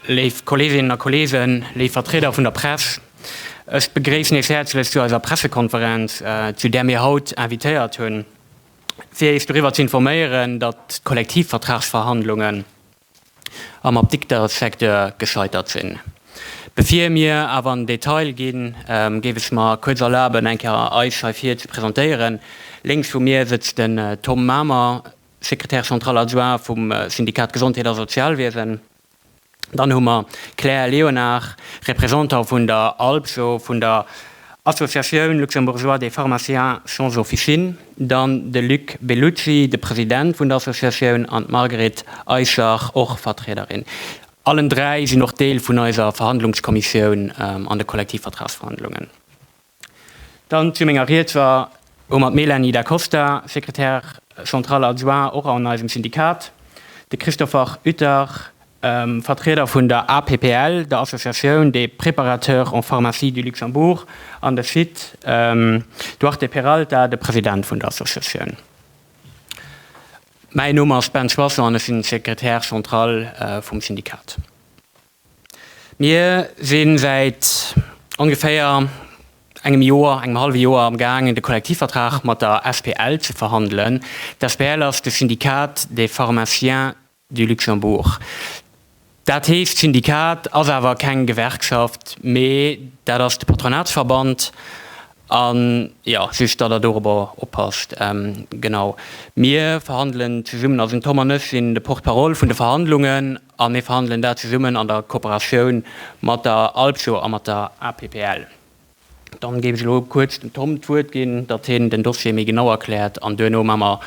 Léif Kolleeginnen a Kolleegen, léif Vertrieder vun der Press, ech begréissen Iech häerzlech zu eiser Pressekonferenz, zu där mir haut invitéiert hunn, fir Iech doriwwer ze informéieren, datt d'Kollektivvertragsverhandlungen, am Apdiktersecteur gescheitert sinn. Bevir mir awer an den Detail ginn, géif ech mer kuerz erlaben, eng Kéier eis hei vir ze presentéieren. Lénks vu mir sëtzt den Tom Mamer, Secrétaire central adjoint vum Syndikat Gesondheet a Sozialwiesen. Dann hu mer Claire Léonard, Représentant vun der ALPSO, vun der Associatioun Luxembourgeoise des Pharmaciens sans Officine. Dann de Luc Bellucci, de President vun der Associatioun, an d'Margret Eischer, och Vertriederin. Allen dräi sinn och Deel vun eiser Verhandlungskommissioun an de Kollektivvertragsverhandlungen. Dann zu menger Ried hu mer d'Mélanie Da Costa, Secrétaire centrale adjoint och an eisem Syndikat, de Christopher Utter, Vertrieder vun der APPL, der Associatioun des Préparateurs en Pharmacie du Luxembourg, an de Sid Duarte Peralta, de President vun der Associatioun. Mäin Numm ass Ben Soisson an ech sinn Secrétaire central vum Syndikat. Mir si säit ongeféier engem Joer, engem hallwe Joer am gaang de Kollektivvertrag mat der SPL ze verhandelen. D'SPL ass de Syndikat des Pharmaciens du Luxembourg. Dat heescht, d'Syndikat ass awer keng Gewerkschaft, mee dat ass de Patronatsverband. An, jo, just datt Der dorobber oppasst. Genau. Mir verhandelen zesummen, also den Tom an ech sinn de Porte-parole vun de Verhandlungen a mir verhandelen dat zesummen an der Kooperatioun mat der ALPSO a mat der APPL. Dann géif ech elo kuerz dem Tom d'Wuert ginn, datt hien den Dossier méi genau erkläert an duerno maa mer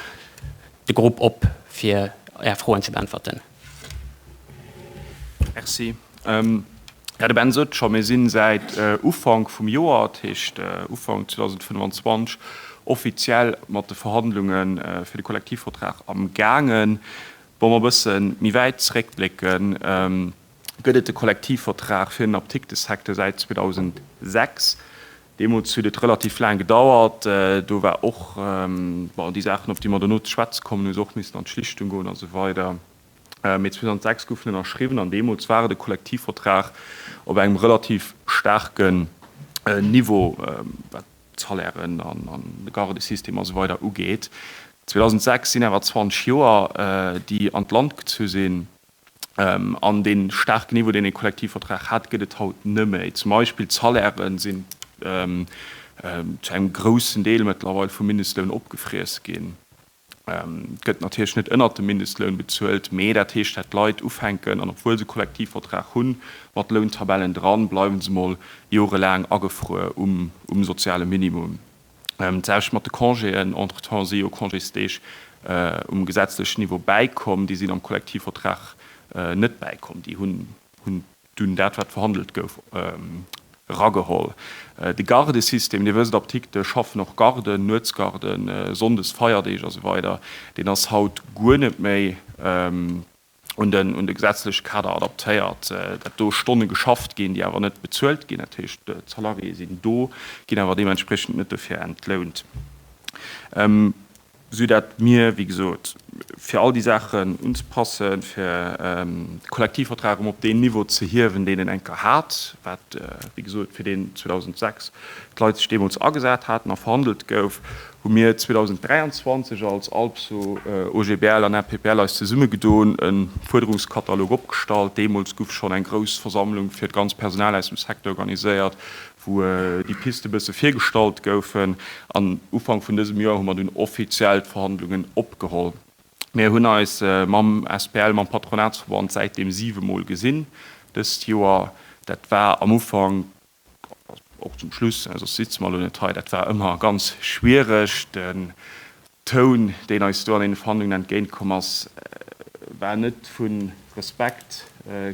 de Grupp op fir Är Froen ze beäntwerten. Merci. Jo, de Ben sot et scho, mir si säit Ufank vum Joer, dat heescht Ufank 2025, offiziell mat de Verhandlunge fir de Kollektivvertrag am gaangen. Wa mer e bësse méi wäit zréckblécken, gëtt et de Kollektivvertrag fir den Aptiktesecteur säit 2006. Deemools huet et relativ laang gedauert. Do war och, bon, déi Saachen, op déi mer dono ze schwätze kommen, hu se och missen an d'Schlichtung goen a sou weider. Mee 2006 goufen ënnerschriwwen an deemools war et e Kollektivvertrag op engem relativ staarke Niveau, wat d'Salairen an de Garde-System a sou weider ugeet. 2006 sinn awer 20 Joer, déi an d'Land gezu sinn. An dee staarken Niveau, deen ee Kollektivvertrag hat, gëtt et haut net méi. Zum Beispill d'Salairë sinn zu engem groussen Deel mëttlerweil vum Mindestloun opgefriess ginn. Et gëtt natierlech net ënnert dem Mindestloun bezuelt, mee dat heescht, dat d'Leit ufänken, an obwuel se Kollektivvertrag hunn, mat Lountabellen dran, bleiwe se mol jorelaang agefruer um soziale Minimum. D'Saach mat de Congéen, entretemps si jo Congésdeeg um gesetzlechen Niveau bäikomm, déi sinn am Kollektivvertrag net bäikomm. Déi hunn dunn dat, wat verhandelt gouf, erageholl. De Gardesystem, Dir wësst, Apdikte schaffen och Garden, Nuetsgarden, Sonndes, Feierdeeg a sou weider, deen ass haut guer net méi. un de gesetzleche Kader adaptéiert, datt do Stonne geschafft ginn, déi awer net bezuelt ginn, dat heescht, d'Salariéë sinn do, ginn awer deementspriechend net dofir entlount, sou datt mir, wéi gesot, fir all déi Saachen unzepassen, fir de Kollektivvertrag erëm op deen Niveau ze hiewen, deen en eng Kéier hat, wat, wéi gesot, fir deen 2006 d'Leit sech deemools agesat haten a verhandelt gouf, hu mir 2023 als ALPSO, OGBL an RPPL eis zesumme gedoen, e Fuerderungskatalog opgestallt. Deemools guff schonn eng grouss Versammlung fir d'ganz Personal aus dem Secteur organiséiert, wou déi Piste bësse virgestallt goufen. An Ufank vun dësem Joer hu mer dunn offiziell d'Verhandlungen opgeholl. Mir hunn eis mam SPL, mam Patronatsverband säitdeem siwe Mol gesinn dëst Joer. Dat war am Ufank Och zum Schluss, soss sitzen mer elo net hei, dat war ëmmer ganz schwiereg. Den Toun, deen eis do an deene Verhandlungen entgéint komm ass, war net vu Respekt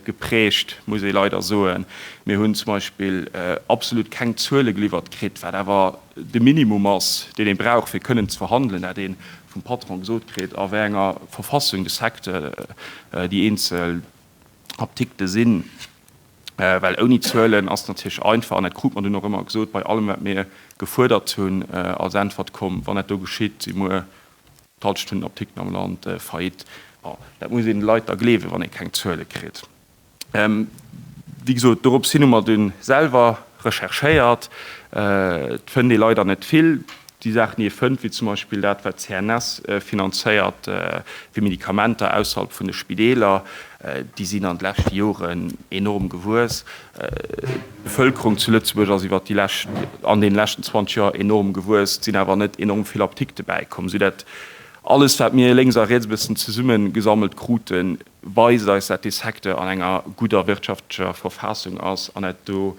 geprägt, muss ee leider soen. Mir hunn zum Beispill absolut keng Zuele geliwwert kritt, wat awer de Minimum ass, deen ee brauch, fir kënnen ze verhandelen, dat ee vum Patron gesot kritt, a wéi enger Verfassung de Secteur déi eenzel Apdikte sinn, well ouni Zuelen ass et natierlech einfach, an dat krut mer dunn och ëmmer gesot bei allem wat mir gefuerdert hunn als Äntwert, komm, wann dat do geschitt, si muer d'Hallschent Apdikten am Land faillite. Bon, dat muss een de Leit da gleewen, wann ee keng Zuele kritt. Wéi gesot, dorops hin hu mer dunn selwer recherchéiert. Et fënnt ee leider net vill. déi Saachen, déi ee fënnt, wéi zum Beispill dat, wat d'CNS finanzéiert fir Medikamenter ausserhalb vun de Spideeler, déi sinn an de leschte Joren enorm gewuess. D'Bevëlkerung zu Lëtzebuerg ass iwwert déi lescht, an deene leschten 20 Joer enorm gewuess. Et sinn awer net enorm vill Apdikte bäikomm, soudatt alles, wat mir lénks a riets e bëssen zesummegesammelt kruten, weist eis, dat dee Secteur an enger gudder wirtschaftlecher Verfassung ass an dat do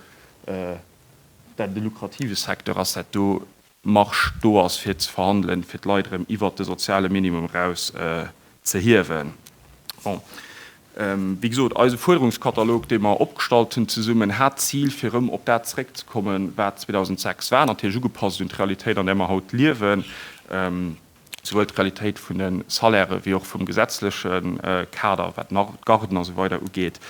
dat e lukrative Secteur ass, dat do Marge do ass fir ze verhandelen, fir d'Leit erëm iwwert de soziale Minimum eraus ze hiewen. Bon, wéi gesot, eise Fuerderungskatalog, dee mer opgestallt hunn zesummen, hat d'Zil fir erëm op dat zeréckzekommen, wat 2006 war, natierlech ugepasst un d'Realitéit, an där mer haut liewen. Souwuel d'Qualitéit vun de Salairen, wéi och vum gesetzleche Kader, wat d'Garden a sou weider ugeet.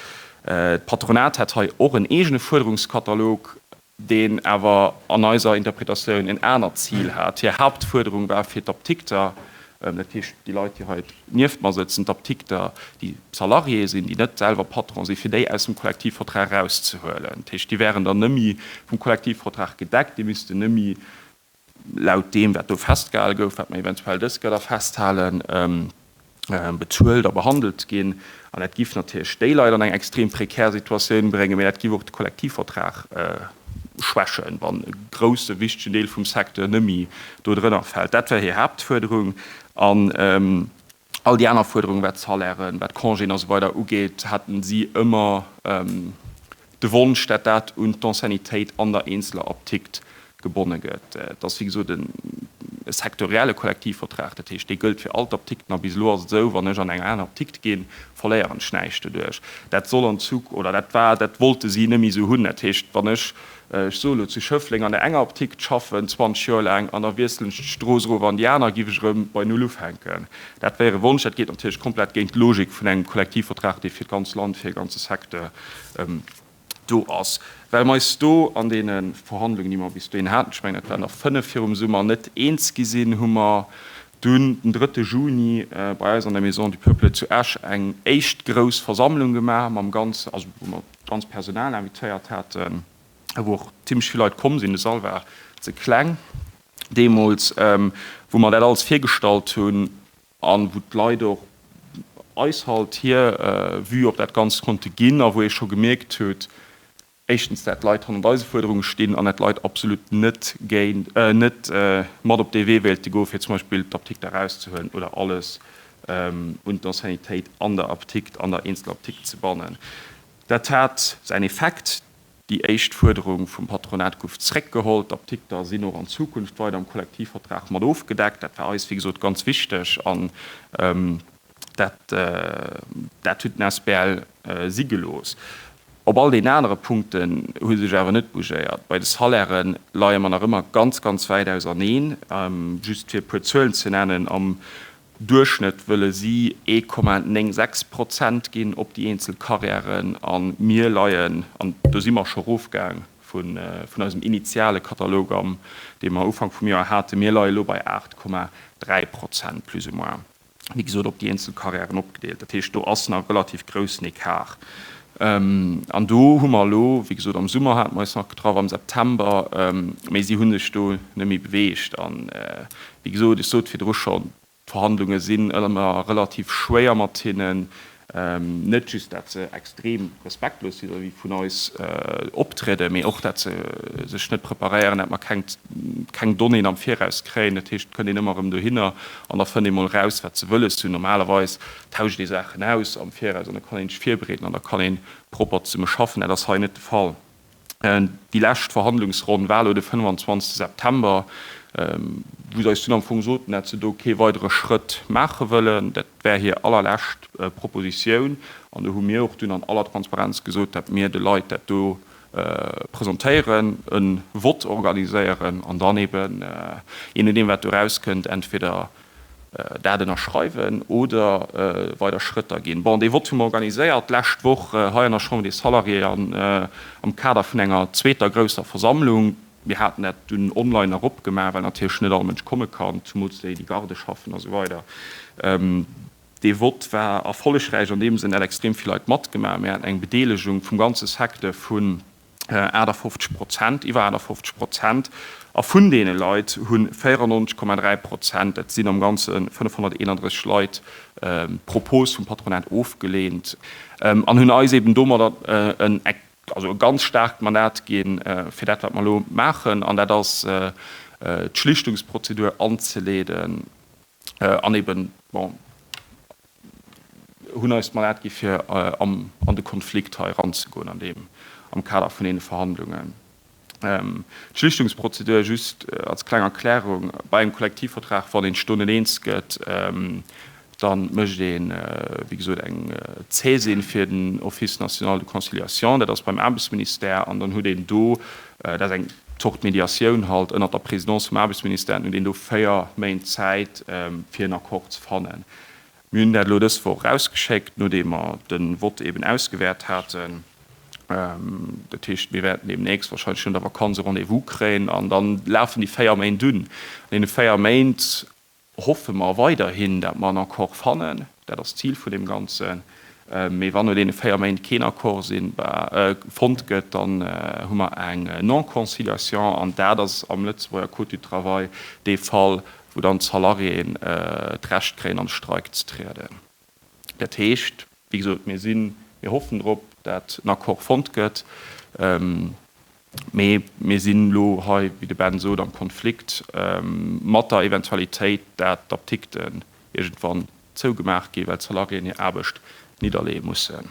D'Patronat hätt hei och en eegene Fuerderungskatalog, deen awer an eiser Interpretatioun en anert Zil hat. Hir Hauptfuerderung war fir d'Apdikter, dat heescht déi Leit, déi hei nieft mer sëtzen, d'Apdikter, déi Salarié sinn, déi net selwer Patron sinn, fir déi aus dem Kollektivvertrag erauszehuelen. Dat heescht, déi wären dann nemmi vum Kollektivvertrag gedeckt, déi missten nemmi laut deem, wat do festgehale gouf, wat mer eventuell dës Gëtter festhalen, bezuelt a behandelt ginn. An dat giff natierlech déi Leit an eng extrem prekär Situatioun bréngen, mä dat giff och de Kollektivvertrag schwächen, wann e grousse, wichtegen Deel vum Secteur net méi do drënner fält. Dat war hir Haaptfuerderung. All déi aner Fuerderungen, wat d'Salairen, wat d'Congéen a sou weider ugeet, haten si ëmmer de Wonsch, dat dat un d'Anciennitéit an der eenzeler Aptikt gebonne gëtt. Et ass wéi gesot e sektorielle Kollektivvertrag, dat heescht, dee gëllt fir all d'Aptikten. A bis elo ass et esou, wann ech an eng aner Aptikt ginn, verléieren ech näischt doduerch. Dat soll an Zu oder dat war, dat wollte si net méi esou hunn. Dat heescht, wann ech Ech soen elo zu Schëffleng an der enger Aptick d'schaffen 20 Joer laang an da wiesselen ech d'Strooss erof an déi aner giff ech erëm bei Null ufänken. Dat wär e Wonsch. Dat geet natierlech komplett géint d'Logik vun engem Kollektivvertrag, dee fir d'ganz Land, fir e ganze Secteur do ass. Well mer eis do an deene Verhandlungen, déi mer bis dohin haten, ech mengen dat waren der 5 virum Summer, net eens gi sinn, hu mer dunn den drëtte Juni bei eis an der Maison du Peuple zu Esch eng éischt grouss Versammlung gemaach mam ganze, also wou mer D'ganz Personal invitéiert haten, a wou och zimmlech vill Leit komm sinn, de Sall war ze kleng deemools, wou mer dat alles virgestallt hunn, a wou d'Leit och eis halt hir Vue op dat Ganzt konnte ginn, a wou ee scho gemierkt huet, éischtens dat d'Leit hannert eise Fuerderunge stinn, an dat d'Leit absolut net géint, net mat op dee Wee wéilte goe fir zum Beispill d'Aptikt erauszehuelen oder alles un d'Anciennitéit an der Aptikt, an der Eenzelaptikt ze bannen. Dat hat säin Effekt, Déi éischt Fuerderung vum Patronat gouf zréckgeholl. D'Aptikter sinn och an Zukunft weider am Kollektivvertrag mat ofgedeckt. Dat war eis, wéi gesot, ganz wichteg an dat huet den asbl si gelooss. Op all deenen anere Punkten hu sech awer net bougéiert. Bei de Salairë leie mer nach ëmmer ganz, ganz wäit auserneen. Just fir e puer Zuelen ze nennen, Am Duerchschnëtt wëlle si ee Komma 96 Prozent ginn op déi eenzel Carrièren a mir leien, an do si mer scho erofgaang vun eisem initiale Katalog am, dee mer Ufank vum Joer haten, mir leie lo bei 8 Komma 3 Prozent plus ou moins, wéi gesot op déi eenzel Carrièren opgedeelt. Dat heescht, do ass nach e relativ groussen Ecart. An do hu mer elo, wéi gesot am Summer hate mer eis nach getraff, am September, mee si hu sech do net méi beweegt. An Wéi gesot, ech sot virdru schonn, d'Verhandlunge sinn ëmmer relativ schwéier mat hinnen. Net just dat se extrem respektlos vis-à-vis vun eis optrieden, mee och dat se sech net preparéieren, dat mer keng Donnéeën am Viraus kréien. Dat heescht, et kënnt een ëmmer erëm dohinner an da fënnt ee mol eraus, wat se wëlles hunn. Normalerweis tauscht ee Saachen aus am Viraus an da kann een sech virbereeden an da kann ee propper zesumme schaffen. Dat ass hei net de Fall. déi lescht Verhandlungsronn war elo de 25 September, wou se eis dunn am Fong soten, dat se do kee weidere Schrëtt maache wëllen. Dat war hir allerlescht Propositioun an do hu mir och dunn an aller Transparenz gesot, dat mir de Leit dat do presentéieren, e Vott organiséieren an dann eeben, jee nodeem wat do erauskënnt, entweder Dat ënnerschreiwen oder weider Schrëtter ginn? Bon, dee Vott hu mer organiséiert d'lescht Woch hei an der Chambre des Salariés an am Kader vun enger zweeter grousser Versammlung. Mir haten dat dunn online erop gemaach, well natierlech net all Mënsch komme kann, zumools déi, déi Garde schaffen a sou weider. Dee Vott war erfollegräich an deem Sënn, dat extrem vill Leit matgemaach hunn. Mir haten eng Bedeelegung vum ganze Secteur vu 58 Prozent, iwwer 58 Prozent, a vun deene Leit hu 94,3 Prozent, dat sinn am Ganze 531 Leit, d'Propos vum Patronat ofgeleent an hunn eis eben domadder en ganz staarkt Mandat ginn, fir dat, wat mer elo maachen, an dat ass d'Schlichtungsprozedur anzeleeden an eben, bon, hunn eis d'Mandat gi fir an de Konflikt hei eranzegoen an deem am Kader vun deene Verhandlungen. D'Schlichtungsprozedur, just als kleng Erklärung, bei engem Kollektivvertrag, wann een d'Stonnen eens gëtt, da mécht ee wéi gesot eng Zäsin fir den Office national de conciliation, dat ass beim Aarbechtsministère, an dann huet een do, dat ass eng Zort Mediatioun halt, ënnert der Présidence vum Aarbechtsministère, dann huet een do véier Méint Zäit fir en Accord ze fannen. Mir hunn dat elo dës Woch erausgeschéckt, nodeem mer de Vott eben ausgewäert haten. Dat heescht, mir wäerten deemnächst, warscheinlech no der Vakanz, e Rendez-vous kréien an da lafen déi véier Méint un. An deene véier Méint hoffe mer weiderhin, datt mer en Accord fannen. Dat ass d'Zil vun deem Ganzen. Mee wann no deene véier Méint keen Accord sinn, fonnt gëtt, dann hu mer eng Non-conciliation. An dat ass am Lëtzebuerger Code du travail dee Fall, wou dann d'Salariéen d'Recht kréien an de Streik ze trieden. Dat heescht, wéi gesot, mir sinn, mir hoffen drop, dat en Accord fonnt gëtt, mee mir sinn elo hei, wéi de Ben sot, am Konflikt mat der Eventualitéit, dat d'Apdikten iergendwann zougemaach gi well d'Salariéen hir Aarbecht nidderleeë mussen.